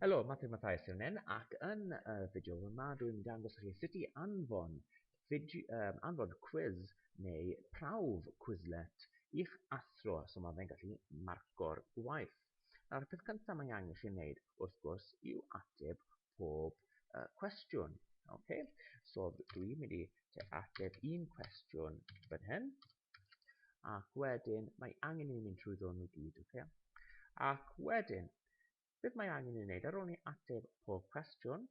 Helo, Mathew Mathias yw nen, ac yn y fideo yma dwi'n dangos chi sut i anfon, fideo, um, anfon quiz neu prawf Quizlet i'ch athro, so mae fe'n gallu marco'r gwaith. Nawr, y peth cyntaf mae angen chi wneud, wrth gwrs, yw ateb pob uh, cwestiwn. Okay? So dwi'n mynd i ateb un cwestiwn fan hyn, ac wedyn mae angen i ni mynd trwy ddwn nhw gyd ok ac wedyn beth mae angen i ni wneud ar ôl ni ateb pob cwestiwn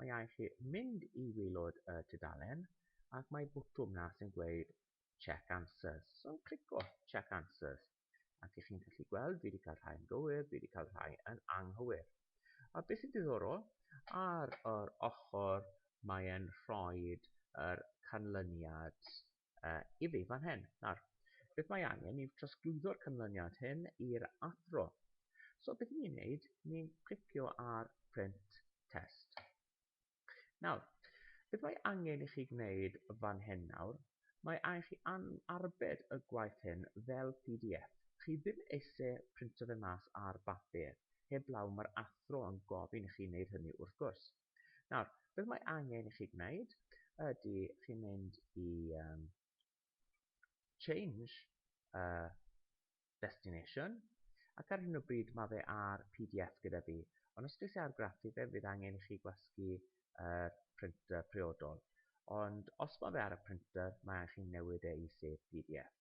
mae angen chi mynd i waelod y tudalen ac mae bwtwm na sy'n gweud check answers so clico check answers ac ych chi'n gallu gweld fi wedi cael rhai yn gywir fi wedi cael rhai yn anghywir a beth sy'n diddorol ar yr ochr mae'n rhoi yr canlyniad uh, i fi fan hyn. Nawr, beth mae angen yw trosglwyddo'r canlyniad hyn i'r athro. So beth ni'n neud, ni'n clicio ar print test. Nawr, beth mae angen i chi gwneud fan hyn nawr, mae angen chi arbed y gwaith hyn fel PDF. Chi ddim eisiau printio fe mas ar bapur, heblaw mae'r athro yn gofyn i chi wneud hynny wrth gwrs. Nawr, beth mae angen i chi gwneud ydy chi mynd i um, change uh, destination ac ar hyn o bryd mae fe ar PDF gyda fi ond os dwi ar graffu fe fydd angen i chi gwasgu uh, printer priodol ond os mae fe ar y printer mae angen chi newid e i sef PDF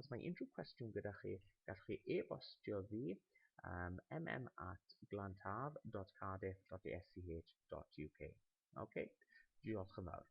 Os mae unrhyw cwestiwn gyda chi, gallwch chi e-bostio fi um, mm at glantaf.cardiff.esch.uk. OK, diolch yn fawr.